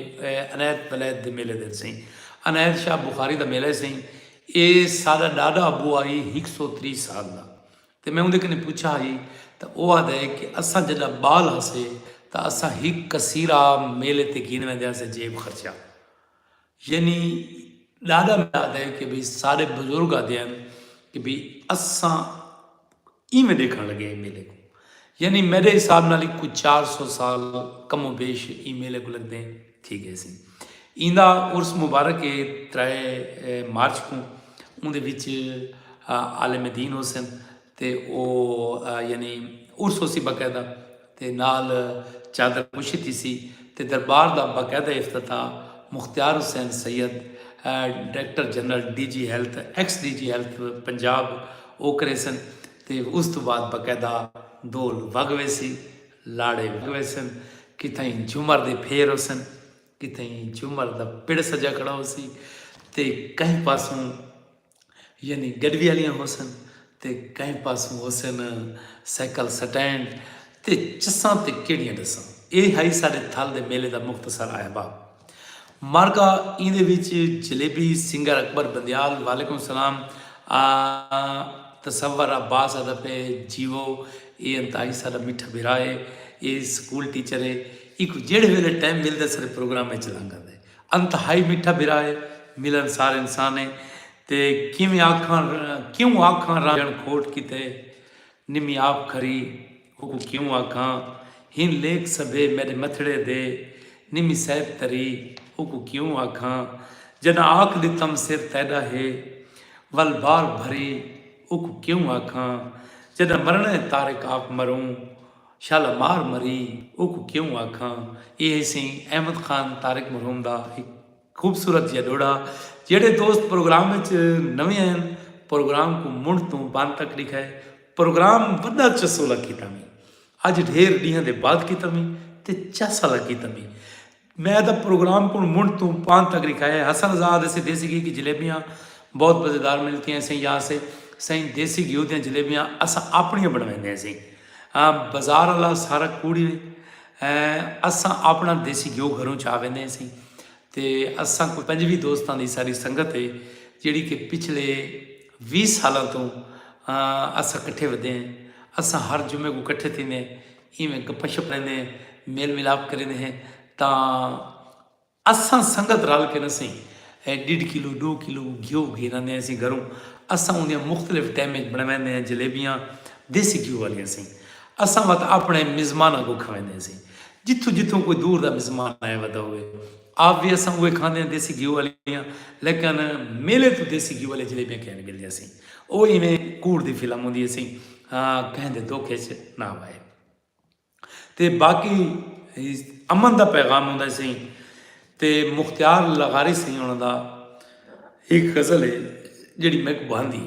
عنایت ولایت دے میلے دے سئیں۔ عنایت شاہ بخاری دا میلہ ہے سئیں۔ اے ساڈا ڈاڈا ابو آ ہئی ہک سو تریہہ سال دا تے میں اوندے کنیں پچھا ہئی تاں او آہدا ہے کہ اساں جڈا بال ہاسے تاں اساں ہک کثیرا میلے تے گھن ویندے ہاسے جیب خرچہ یعنی ڈاڈا میڈا آہدا ہے کہ بھئی ساڈے بزرگ آہدے ہن کہ بھئی اساں ایویں ڈیکھن لگے ایں میلے کوں یعنی میڈے حساب نال ہک کوئی چار سو سال کم و بیش ایں میلے کوں لگدے تھی گئے سن ایندا عرس مبارک اے ترے مارچ کوں اوندے وچ عالم دین ہوسن تے او یعنی عرس ہوسی باقاعدہ دے نال چادر پوشی تھیسی تے دربار دا باقاعدہ افتتاح Mukhtiar Hussain Syed, director general D G health, ex D G health Punjab, او کریسن تے اس توں بعد باقاعدہ ڈھول وگ ویسی، لاڑے وگ ویسن، کتھائیں جھمر دے پھیر ہوسن، کتھائیں جھمر دا پڑ سجا کھڑا ہوسی تے کہیں پاسوں۔ یعنی گڈی آلیاں ہوسن تے کہیں پاسوں ہوسن سائیکل سٹینڈ تے چساں تے کیڑیاں ڈساں۔ اے ہئی ساڈے تھل دے میلے دا مختصر آہبا۔ مارکا ایندے وچ جلیبی سنگر اکبر بندیال وعلیکم السلام آ تصور عباس آدھا پے جیوو اے انتہائی ساڈا میٹھا بھرا اے اے سکول ٹیچر اے ایکوں جیڑھے ویلے ٹائم ملدے ساڈے پروگرام وچ لنگ آندے۔ انتہائی میٹھا بھرا ہے ملن سار انسان ہے تے کیویں آکھاں کیوں آکھاں رانجھن کھوٹ کیتے نمی آپ کھری اوکوں کیوں آکھاں ہن لیکھ سبھے میڈے متھڑے دے نمی سیف تری اوکوں کیوں آکھاں جڈاں آکھ ڈتم سر تیڈا ہے ول بار بھری اوکوں کیوں آکھاں جڈاں مرنڑے طارق آپ مروں شالا مار مری اوکوں کیوں آکھاں۔ ایہ ہیسی احمد خان طارق مرحوم دا ہک خوبصورت جیہا ڈوہڑا۔ جیہڑے دوست پروگرام اچ نویں آئن پروگرام کوں منڈھ توں بن تک ڈیکھا ہے۔ پروگرام وڈا چسولا کیتا میں۔ اج ڈھیر ڈینہاں دے بعد کیتا میں تے چاسالا کیتا میں۔ میں تاں پروگرام کوں منڈھ توں پاند تک رکھا ہے۔ حسن رضا آہدے سے دیسی گھی کی جلیبیاں بہت مزیدار ملتی ہیں سئیں یا سے سئیں دیسی گھیو دیاں جلیبیاں اساں اپنیاں بنویندے سئیں بازار والا سارا کوڑی اساں اپنا دیسی گھیو گھروں چا ویندے سئیں تے اساں کوئی پنجوی دوستاں دی ساری سنگت ہے جیڑی کہ پچھلے ویس سالاں توں اساں کٹھے ودے ہیں اساں ہر جمعے کو کٹھے تھیندے ہیں۔ ایویں گپاں شپاں کریندے ہیں میل ملاپ کریندے ہیں تاں اساں سنگت رل کے نسیں ڈیڈھ کلو ڈو کلو گھیو گھن آندے ہیں سیں گھروں اساں اوندیاں مختلف ٹیم وچ بنویندے ہیں جلیبیاں دیسی گھیو والیاں سیں اساں وت اپنے مزماناں کو کھویندے ہیں سیں جتھوں جتھوں کوئی دور دا مزمان آیا ودا ہوئے آپ وی اساں اوہے کھاندیاں دیسی گھیو آلیاں لیکن میلے توں دیسی گھیو آلیاں جلیبیاں کہیں نی ملدیاں سی او ایویں کوڑ دی فلم ہوندی ہے سی کہیں دے دکھ اچ نہ وائے تے باقی امن دا پیغام ہوندا سی تے مختیار لغاری سی انہاں دا ایک غزل ہے جڑی میں کو بھاندی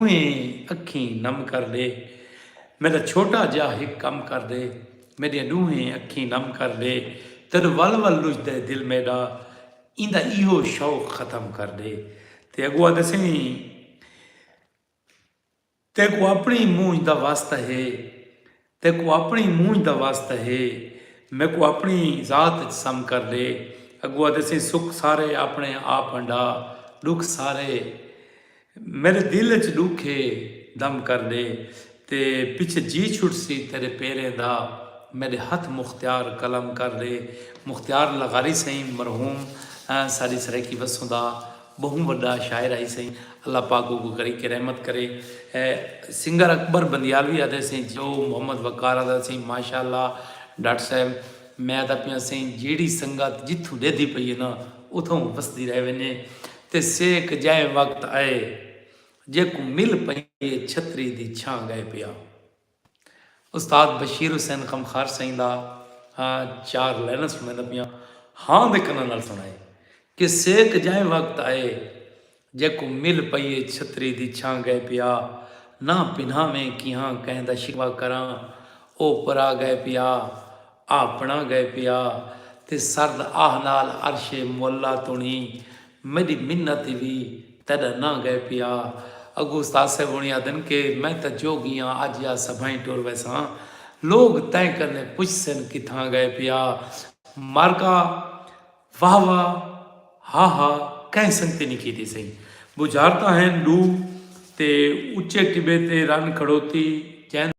ڈوہیں اکھیں نم کر ڈے میڈا چھوٹا جا ہک کم کر ڈے میڈیاں ڈوہیں اکھیں نم کر ڈے تیڈو ول ول لجدا ہے دل میڈا ایندا ایہو شوق ختم کر ڈے تے اگو آدھے سائیں تیکو اپنی مونجھ دا واسطہ ہے تیکوں اپݨی مونجھ دا واسطہ ہے۔ میکوں اپݨی ذات اچ سم کر ݙے۔ اڳوں آہدے سئیں سکھ سارے اپݨے آپ ہنڈا ݙکھ سارے میݙے دل اچ ݙکھ ہے دم کر ݙے تے پچھے جی چھٹسی تیݙے پیریں دا میݙے ہتھ مختیار قلم کر ݙے مختیار لغاری سئیں مرحوم ساݙی سرائیکی وسوں دا بہوں وڈا شاعر ہئی سئیں اللہ پاک اوکوں کری کے رحمت کرے سنگر اکبر بندیالوی آدھے سئیں جو محمد وقار آدھا سئیں ماشاءاللہ ڈاکٹر صاحب میں آدھا پیاں سئیں جیڑھی سنگت جتھوں ڈیدھی پئی ہے نا اتھوں وسدی رہ ونجے تے سیک جائیں وقت آئے جیکوں مل پئی ہے چھتری دی چھاں گئے پیا۔ استاد بشیر حسین خمخار سئیں دا چار لائناں سنڑیندا پیاں ہاں دے کناں نال سنڑائے کہ سیک جائیں وقت آئے جیکو مل پئیے چھتری دی چھاں گئے پیا ناں پنہاویں کیہاں کہیں دا شکوہ کراں او پرا گئے پیا آپنڑاں گئے پیا تے سرد آہ نال عرش معلی تنڑی میڈی منت ای وی تیڈا ناں گئے پیا اگو استاد صاحب ہونی آدھن کے میں تاں جو گیاں اج یا سبھائیں ٹر ویساں لوگ تیں کنے پچھسن کتھاں گئے پیا مرکا واہ واہ ہا ہا کہیں سنگتی نی کیتی سئیں بجھارتاں ہن ڈو تے اچے ٹبے تے رن کھڑوتی جیندے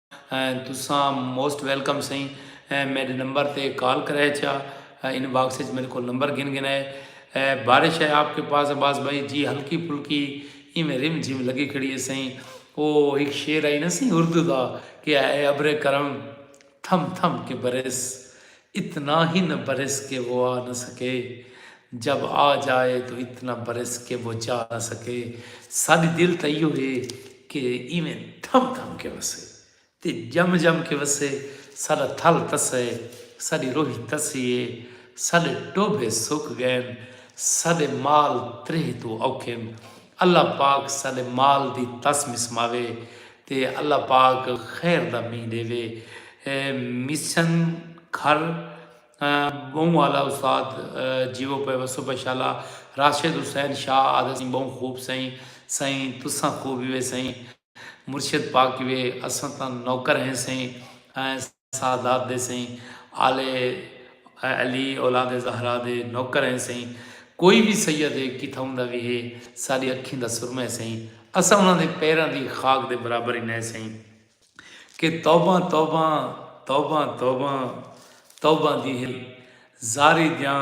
تساں موسٹ ویلکم سئیں میڈے نمبر تے کال کرے چا ان باکس اچ میڈے کول نمبر گھن گھن ہے بارش ہے آپ کے پاس عباس بھائی جی ہلکی پھلکی ایویں رم جھم لگی کھڑی ہے سئیں او ہک شعر آئی نا سئیں اردو دا کہ اے ابر کرم تھم تھم کے برس اتنا ہی نہ برس کہ وہ آ نہ سکے جب آ جائے تو اتنا برس کہ وہ جا نہ سکے ساڈی دل تاں ایہو ہے کہ ایویں تھم تھم کے وسے تے جم جم کے وسے ساڈا تھل تسے ساڈی روہی تسی ہے ساڈے ٹوبھے سک گئن ساڈے مال تریہہ توں اوکھن اللہ پاک ساڈے مال دی تس مسماوے تے اللہ پاک خیر دا مینہ ڈیوے۔ مسن گھر بہوں آلا استاد جیو پے وسو پے شالا راشد حسین شاہ آدھے سائیں بہوں خوب سائیں سائیں تساں خوب ہی وے سائیں مرشد پاک ہی وے اساں تاں نوکر ہیں سائیں سادات دے سئیں آلے علی اولاد زہرا دے نوکر ہیں سئیں کوئی وی سید ہے کتھاؤں دا وی ہے ساڈی اکھیں دا سرمہ ہے سئیں اساں انہاں دے پیراں دی خاک دے برابر ہی نئیں سئیں کہ توباں توباں توباں توباں توباں دی ہے زاری دیاں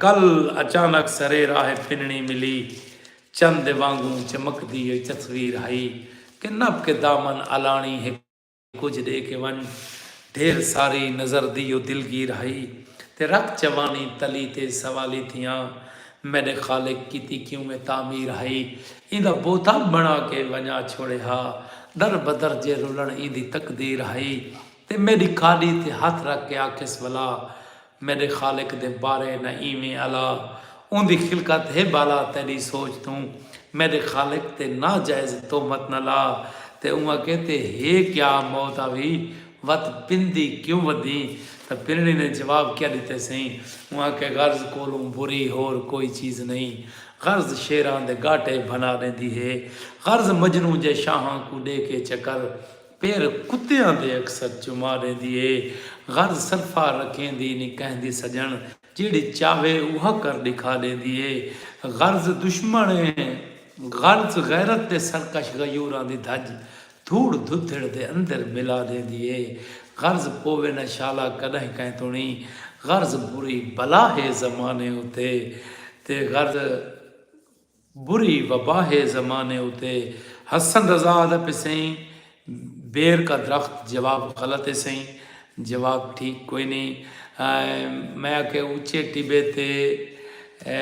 کل اچانک سرے راہ پنڑی ملی چن دے وانگوں چمکدی اے تصویر ہئی کہ نبھ کے دامن الانڑی ہک کجھ ڈے کے ونج ڈھیر ساری نظر دی او دلگیر ہئی تے رت چوانی تلی تے سوالی تھیاں میڈے خالق کیتی کیوں اے تعمیر ہئی ایندا بوتا بنڑا کے ونجا چھوڑے ہا در بدر جے رلنڑ ایندی تقدیر ہئی۔ تے میݙی کاݙی تے ہتھ رکھ کے آکھیس ولا میݙے خالق دے بارے نہ ایویں الا اوندی خلقت ہے ٻالا تیݙی سوچ توں میݙے خالق تے ناجائز تہمت نہ لا تے اوں اکھے تے ہے کیا موت آوی وت پندی کیوں ودھیں تاں پنڑی نے جواب کیا ݙتے سئیں اوں اکھے غرض کولوں بری ہور کوئی چیز نئیں غرض شیراں دے ڳاٹے بھنا ݙیندی ہے غرض مجنوں جے شاہاں کوں ݙے کے چکر پھر کتیاں دے اکثر چما ڈیندی اے غرض صرفا رکھیندی نی کہندی سجن جیڑھی چاہوے اوہا کر ڈکھا ڈیندی اے غرض دشمن اے غرض غیرت دے سرکش غیوراں دی دھج دھوڑ دھدھڑ دے اندر ملا ڈیندی اے غرض پووے نہ شالا کڈاہیں کہیں توں نی غرض بری بلا ہے زمانے اتے تے غرض بری وباہے زمانے اتے حسن رضا آہدا پے سئیں بیر کا درخت جواب غلط ہے سئیں جواب ٹھیک کوئی نہیں میں آکھیا اچے ٹبے تے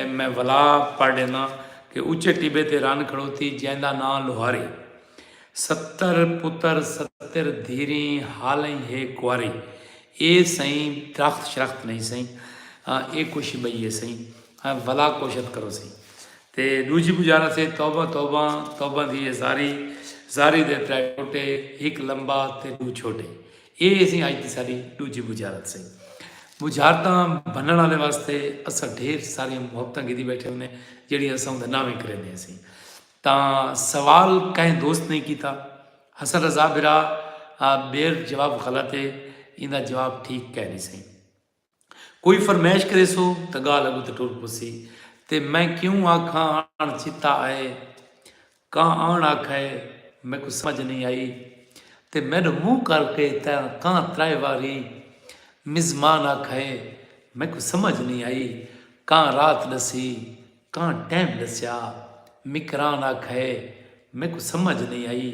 میں ولا پڑھ ڈینا کہ اچے ٹبے تے رن کھڑوتی جیندا ناں لوہاری ستر پتر ستر دھیریں حالیں ہے کواری اے سئیں درخت شرخت نہیں سئیں اے کچھ بئی ہے سئیں ہیں ولا کوشت کرو سی تے ڈوجی گزارا سے توبہ توبہ توبہ دی ہے زاری زاری دے ترے ٹوٹے ہک لمبا تے ڈو چھوٹے اے اسی آج دی ساری ڈوجی بجارت سے بجارتاں بنن والے واسطے اسا ڈھیر ساری محبتاں گدی بیٹھے ہونے جڑی اسا ہوں ناویں کرے نے سی تا سوال کہیں دوست نہیں کیتا حسن رضا برا بیر جواب غلط ہے ان دا جواب ٹھیک کہہ نہیں سی کوئی فرمائش کریسو تاں ڳالھ اڳوں تے ٹر پسی تے میں کیوں آکھاں آݨ چتا آئے کاں آݨ آکھئے میکوں سمجھ نئیں آئی تے میݙو منہ کر کے تاں کاں ترائے واری مزمان آکھئے میکوں سمجھ نئیں آئی کاں رات ݙسی کاں ٹیم ڈسیا۔ مکران آکھئے میکوں سمجھ نئیں آئی۔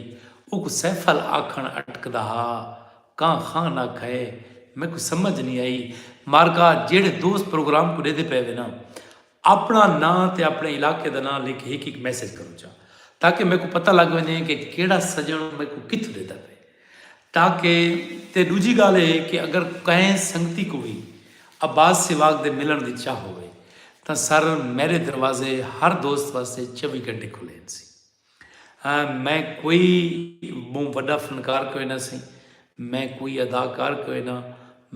اوکوں سیفل آکھنڑ اٹکدا ہا۔ کاں خان آکھئے میکوں سمجھ نئیں آئی۔ مارکا جیہڑے دوست پروگرام کوں ڈیدھے پئے وے نا اپنڑا ناں تے اپنڑے علاقے دا ناں لکھ ہک ہک میسج کرو چا تاکہ میکوں پتہ لگ ونجے کہ کیہڑا سجنڑ میکوں کتھوں ڈیدھا پئے۔ تاکہ تے ڈوجھی گالھ اے کہ اگر کہیں سنگتی کوں وی عباس سیواگ دے ملنڑ دی چاہ ہووے تاں سر میڈے دروازے ہر دوست واسطے چوی گھنٹے کھلے ہنسی۔ میں کوئی بہوں وڈا فنکار کوئنہ سی۔ میں کوئی اداکار کوئنہ۔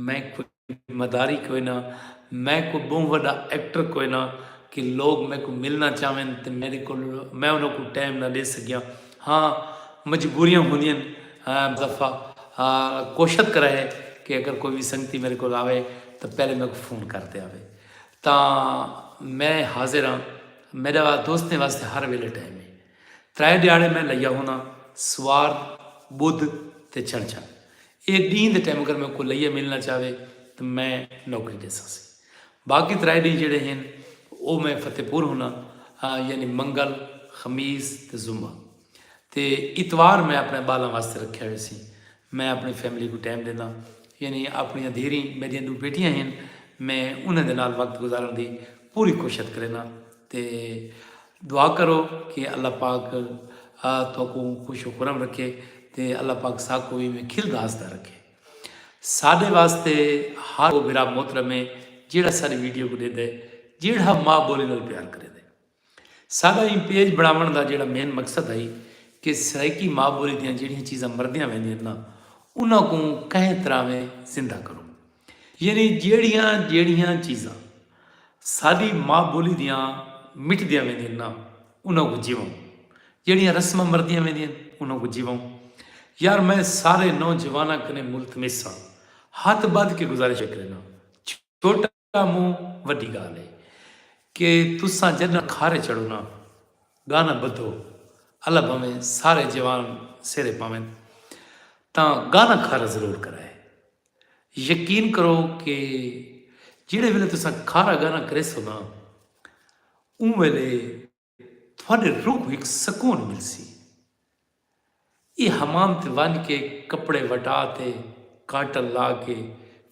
میں کوئی۔ مداری کوئنا میں کوئی بہوں وڈا ایکٹر کوئنا کہ لوگ میکوں ملنا چاہون تے میڈے کول میں انہاں کوں ٹائم نہ ڈے سگیاں ہاں مجبوریاں ہوندین مظفا کوشت کرے کہ اگر کوئی وی سنگتی میڈے کول آوے تاں پہلے میکوں فون کر تے آوے تاں میں حاضر ہاں میڈا دوستیں واسطے ہر ویلے ٹائم ہے۔ ترے ڈیہاڑے میں لئیا ہونا سوار، بدھ تے چھنچھا۔ اے ڈینھ دے ٹیم اگر میں کو لئیا ملنا چاہوے تاں میں نوکری ڈیساں سی۔ باقی ترے ڈینھ جیڑھے ہن او میں فتح پور ہونا یعنی منگل، خمیس تے جمعہ۔ تے اتوار میں اپنے بالاں واسطے رکھیا ہوئے سی۔ میں اپنی فیملی کوں ٹیم ڈینداں یعنی اپنیاں دھیریں میڈیاں ڈو بیٹیاں ہن میں انہاں دے نال وقت گزارن دی پوری کوشت کرینداں تے۔ دعا کرو کہ اللہ پاک تہاکوں خوش و خرم رکھے تے اللہ پاک ساکوں وی ایویں کھلدا ہسدا رکھے۔ ساڈے واسطے ہر او بھرا محترم ہے جیہڑا ساڈی ویڈیو کوں ڈیندے جیہڑا ماء بولی نال پیار کریندے۔ ساڈا ایں پیج بنڑاونڑ دا جیہڑا مین مقصد ہئی کہ سرائیکی ماء بولی دیاں جیہڑیاں چیزاں مردیاں ویندیاں نا انہاں کوں کہیں طرح ویں زندہ کروں۔ یعنی جیڑھیاں جیڑھیاں چیزاں ساڈی ماں بولی دیاں مٹدیاں ویندین نا انہاں کو جیووں جیڑھیاں رسماں مردیاں ویندین انہاں کو جیووں یار میں سارے نوجواناں کنے ملتمس ہاں ہاتھ بدھ کے گزارش کرنا چھوٹا مو وڈی گال ہے کہ تساں جنہ کھارے چڑھو نا گانا بدھو اللہ بھویں سارے جوان سیرے پاویں تاں گانا کھارا ضرور کرائے یقین کرو کہ جیڑھے ویلے تساں کھارا گھارا کریسو نا اوں ویلے تہاڈے روح کوں ہک سکون ملسی۔ ایہ حمام تے ونج کے کپڑے وٹا تے کاٹن لا کے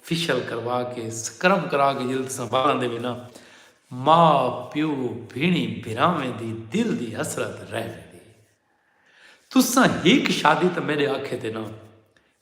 فیشل کروا کے سکرب کرا کے جیلے تساں وال آندے وے نا ماء پیو بھینڑیں بھراویں دی دل دی حسرت رہ ویندی۔ تساں ہک شادی تاں میڈے آکھے تے نا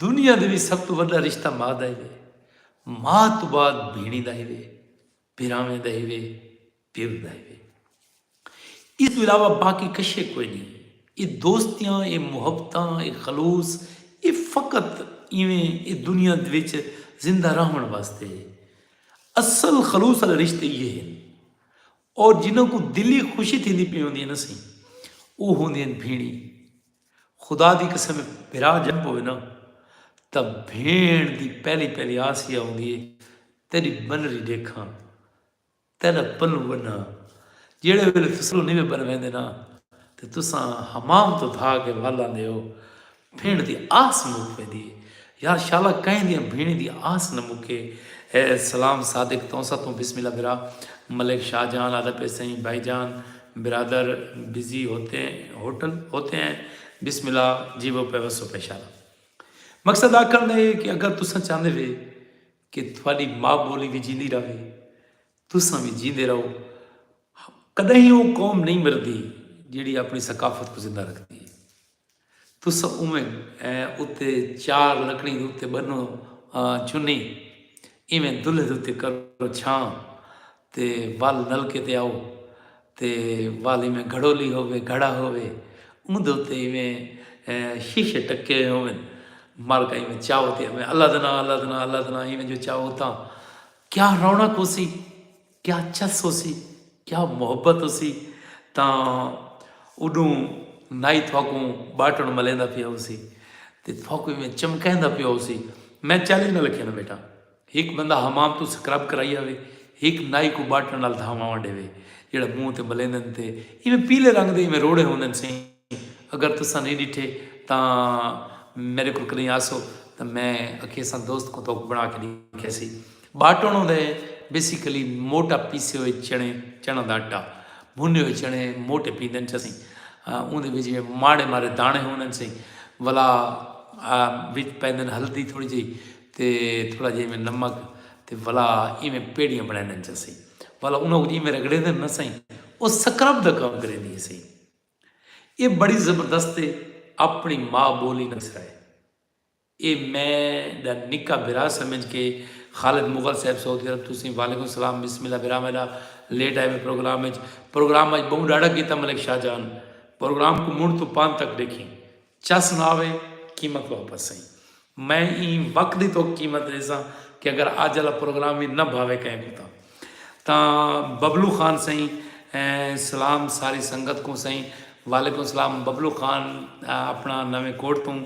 دنیا دے وچ سب توں وݙا رشتہ ماء دا ہیوے۔ ماء توں بعد بھیݨی دا ہیوے، بھراویں دا ہیوے، پیو دا ہیوے۔ ایں توں علاوہ باقی کشے کوئی نئیں۔ اے دوستیاں، اے محبتاں، اے خلوص اے فقط ایویں اے دنیا دے وچ زندہ رہوݨ واسطے ہے۔ اصل خلوص آلے رشتے ایہے ہن۔ اور جنہاں کوں دلی خوشی تھیندی پئی ہوندی ہے نہ سئیں، او ہوندے ہن بھیݨی۔ خدا دی قسم اے بھرا جنم ہووے نا تاں بھیݨ دی پہلی پہلی آس ایہا ہوندی اے تیݙی بنری ݙیکھاں تیݙا پلو ونہاں جیڑھے ویلے تساں پلو نیوے بنویندے نا تے تساں حمام توں دھا کے ول آندے ہو بھیݨ دی آس مک ویندی اے یار شالا کئیں دیاں بھیݨیں دی آس نہ مکے۔ سلام صادق تونسہ توں بسم اللہ برا ملک شاہ جان آدھا پئے سئیں بھائی جان برادر بزی ہوتے ہوٹل ہوتے ہیں بسم اللہ جیوو پئے وسو پئے شالا مقصد آکھن دا اے کہ اگر تساں چاہندے وے کہ تھاڈی ماء بولی وی جیندی رہوے تساں وی جیندے رہو کدہیں او قوم نہیں مردی جیڑھی اپنی ثقافت کوں زندہ رکھدی اے۔ تساں اونویں اتے چار لکڑیں دے اتے ٻنو چنی، ایویں دلھے دے اتے کرو چھاں تے ول نلکے تے آؤ تے ول ایویں گھڑولی ہووے، گھڑا ہووے، اوندے اتے ایویں شیشے ٹکے ہوون، مرک ایویں چاؤ تے آوے اللہ دا ناں اللہ دا ناں اللہ دا ناں ایویں جو چاؤ تاں کیا رونق ہوسی۔ کیا چس ہوسی کیا محبت ہوسی تاں اڈوں نائی تھوکوں باٹن ملیندا پیا ہوسی تے تھوکوں میں چمکیندا پیا ہوسی میں چیلنج نہ لکھیا نا بیٹا ہک بندہ حمام تو سکرب کرائی آوے ہک نائی کو باٹن نال دھاواں ڈیوے جڑا منہ تے ملیندن تے ایویں پیلے رنگ دے ایویں روڑے ہوندن سیں اگر تساں نئیں ݙٹھے تاں میݙے کول کݙاہیں آسو تاں میں اکھیساں دوست کوں تہاکوں بݨا کے ݙکھیسی۔ باٹݨ ہوندا ہے بیسیکلی موٹا پیسے ہوئے چݨے، چݨاں دا اٹا، بھنے ہوئے چݨے موٹے پیندن چاسی۔ اوندے وچ وی ماڑے ماڑے داݨے ہوندن سی ولا وچ پیندن ہلدی تھوڑی جئی تے تھوڑا جئیں میں نمک تے ولا ایویں پیڑیاں بݨیندن چاسی۔ ولا انہاں کوں جئیں میں رگڑیندن نا سئیں او سکرب دا کم کریندی ہسی۔ اے بڑی زبردست اے اپنڑی ما بولی نال سرائے اے میں ڈا نکا بھرا سمجھ کے خالد مغل صاحب سعودی عرب تسیں وعلیکم السلام بسم اللہ بھرا میڈا لیٹ آئے وے پروگرام اچ پروگرام اج بہوں ڈاڈھا کیتا ملک شاہ جان پروگرام کو منڈھ توں پان تک ڈیکھیں چا سنا وے قیمت واپس سئیں میں ایں وقت دی توک قیمت ڈیساں کہ اگر اج آلا پروگرام وی نہ بھاوے کہیں کوں تاں تاں ببلو خان سئیں سلام ساری سنگت کوں سئیں وعلیکم سلام ببلو خان اپنا نویں کوٹ توں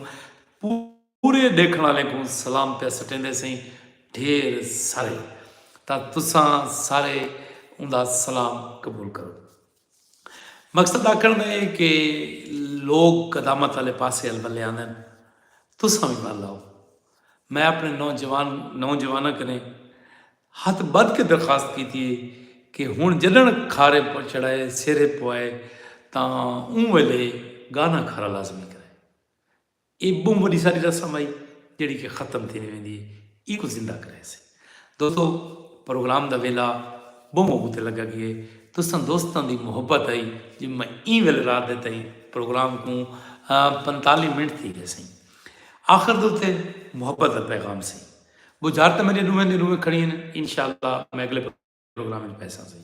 پورے ڈیکھن والے کوں سلام پیا سٹیندے سئیں ڈھیر سارے تاں تساں سارے اوندا سلام قبول کرو مقصد آکھݨ دا اے کہ لوک قدامت آلے پاسے ال ولے آندن، تساں وی ول آؤ۔ میں اپݨے نوجوان نوجواناں کنیں ہتھ ٻدھ کے درخواست کیتی اے کہ ہݨ جݙݨ کھارے چڑھائے سیرے پوائے تاں اوں ویلے گانا کھارا لازمی کرے۔ اے بہوں وڈی ساری رسم ہئی جیڑھی کہ ختم تھیندی ویندی ہے ایں کوں زندہ کریسے دوستو پروگرام دا ویلا بہوں اگوں تے لگا گیے تساں دوستاں دی محبت ہئی جے میں ایں ویلے رات دے تئیں پروگرام کوں پنتالی منٹ تھی گئے سیں آخر دے تے محبت دا پیغام سی بجھارتاں میرے روئیں دے روئیں کھڑی ہیں انشاءاللہ میں اگلے پروگرام وچ پیساں سئیں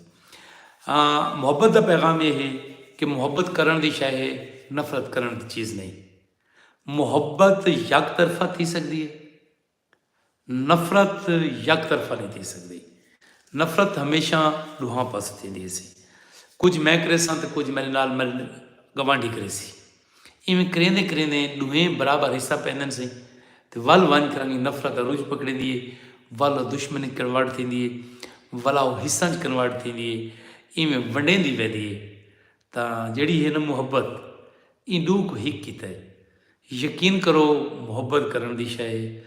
آں محبت دا پیغام اے ہے کہ محبت کرن دی شے ہے نفرت کرن دی چیز نہیں محبت یک طرفہ تھی سکدی ہے نفرت یک طرفہ نہیں تھی سکدی نفرت ہمیشہ ڈوہاں پاس تھی دی سی کچھ میں کرے ساں تے کچھ میرے نال میرے گوانڈی کرے سی اینویں کریندیں کریندیں ڈوہیں برابر حصہ پیندن سے تے ول ونج کر انگی نفرت دا رج پکڑیندی اے ول او دشمنی اچ کنورٹ تھیندی اے ولا او حصاں اچ کنورٹ تھیندی اے اینویں ونڈیندی ویندی اے تاں جیڑھی ہے نہ محبت ایں ڈو کوں ہک کیتا اے یقین کرو محبت کرن دی شے اے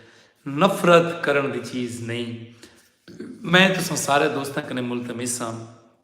نفرت کرن دی چیز نئیں میں تساں سارے دوستاں کنے ملتمس ہاں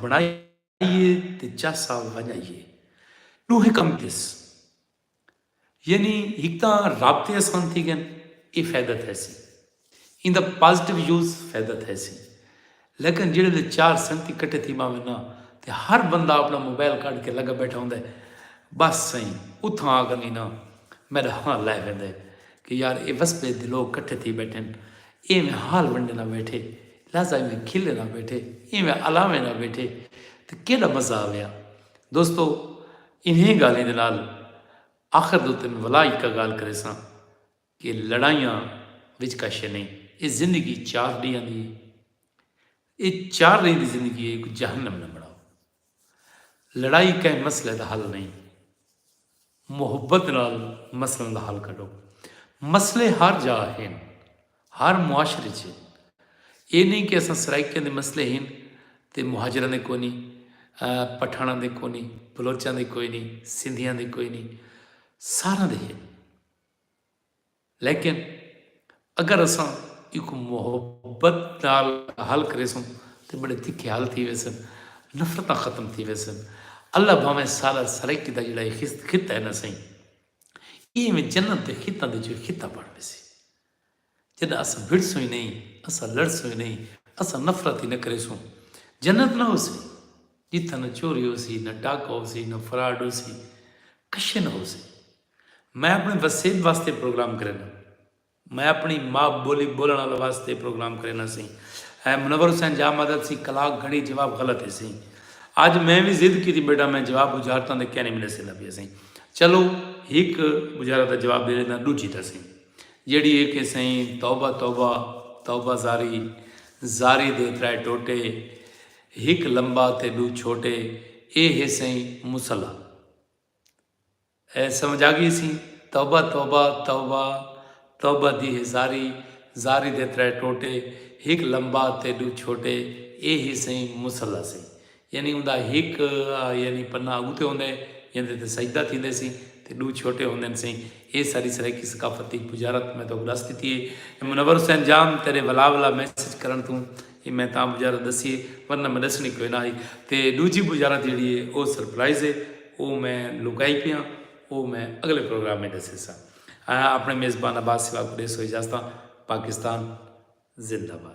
بݨائیے تے چا سال ونڄائیے ݙوہیں کم تھیس یعنی ہک تاں رابطے آسان تھی گئن یہ فائدہ تھے سی ان دا پازیٹیو یوز فائدہ تھے سی لیکن جڑے لے چار سنتی کٹے تھی ماں میں نا تے ہر بندہ اپنا موبائل کاٹ کے لگا بیٹھا ہوں دے بس سائیں اتھاں آ گنی نا میرا ہاں لائے ہوئے دے کہ یار اے وسبے دلو کٹھے تھی بیٹھے اے میں حال ونڈے نہ بیٹھے لہذا ایویں کھلے نہ بیٹھے ایویں الاویں نہ بیٹھے تے کیݙا مزہ آویا۔ دوستو انھیں ڳالھیں دے نال آخر دے اتے میں ولا ہکا ڳالھ کریساں کہ لڑائیاں وچ کا شئے نئیں اے زندگی چار ݙینہاں دی اے اے چار ݙینہاں دی زندگی اے ایکوں جہنم نہ بݨاؤ۔ لڑائی کہیں مسئلے دا حل نئیں، محبت نال مسئلیں دا حل کڈھو۔ مسئلے ہر جاء ہن، ہر معاشرے اچ ہن۔ ایہ نئیں کہ اساں سرائیکیاں دے مسئلے ہن تے مہاجراں دے کوئی نئیں، پٹھاناں دے کوئی نئیں، بلوچاں دے کوئی نئیں، سندھیاں دے کوئی نئیں، ساراں دے ہن۔ لیکن اگر اساں ایکوں محبت نال حل کریسوں تاں بڑے تکھے حل تھی ویسن، نفرتاں ختم تھی ویسن۔ اللہ بھانویں سارا سرائیکی دا جیڑھا اے خطہ اے نا سئیں اے ایویں جنت دے خطاں دے وچوں ہک خطہ بݨ ویسی جݙاں اساں بھڑسوں ای نئیں، اساں لڑسوں ای نئیں، اساں نفرت ای نہ کریسوں۔ جنت نہ ہوسی جتھاں نہ چوری ہوسی، نہ ڈاکہ ہوسی، نہ فراڈ ہوسی، کشے نہ ہوسی۔ میں اپݨے وسیب واسطے پروگرام کرینداں۔ میں اپݨی ما ٻولی ٻولݨ آلوں واسطے پروگرام کرینداں سی۔ اے منور حسین جاہ مدد سی کلاک گھݨی جواب غلط ہیسی۔ اڄ میں وی ضد کیتی ٻیٹھاں میں جواب ٻجھارتاں تے کینی ملے سیندا پیا سئیں۔ چلو ہک ٻجھارت دا جواب ݙے ݙینداں ݙوجھی دا سئیں۔ جیڑھی اے کہ سئیں توبہ توبہ توبہ زاری زاری دے ترائے ٹوٹے ہک لمبا تے ݙو چھوٹے اے ہے سئیں مصلی۔ اے سمجھ آگیسی توبہ توبہ توبہ توبہ دی ہے زاری زاری دے ترے ٹوٹے ہک لمبا تے ڈو چھوٹے اے ہی سئیں مصلی سی یعنی اوندا ہک یعنی پنہ اگو تے ہوندے جیندے تے سجدہ تھیندے سی تے ڈو چھوٹے ہوندن سئیں اے ساڈی سرائیکی ثقافت دی پجارت میں توک ڈس ڈتی ہے منور حسین جام تیڈے ولا ولا میسج کرن توں اے میں تاں بجارت ڈسی اے ورنہ میں ڈسنڑی کوئی نہ ہئی تے ڈوجھی بجارت جیڑھی اے او سرپرائز اے او میں لکائی پیاں او میں اگلے پروگرام اچ ڈسیساں اپنڑے میزبان عباس سوا کوں ڈیسو اجازتاں پاکستان زندہ باد۔